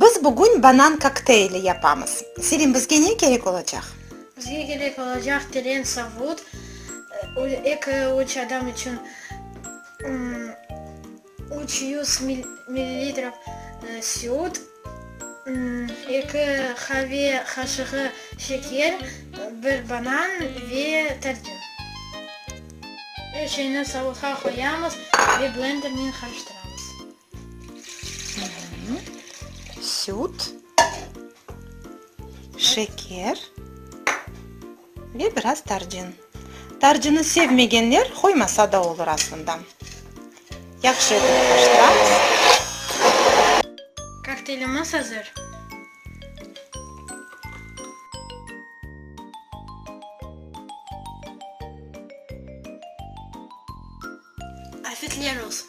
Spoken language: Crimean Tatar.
Biz bugün banan kokteyli yapamız. Selim, bizge ne kerek olacaq? Bizge kerek olacaq teren savut, eki-üç adam içün, üç yüz millilitre süt, eki qave qaşığı şeker, bir banan ve tarçın. Er şeyni savutqa qoyamız ve blendernen qarıştıramız. Süt, şeker. Ve biraz tarcin. Tarcini sevmegenler qoymasa da olur aslında. Yahşı etip qarıştıramız. Kokteylimiz azır. Afetler olsun!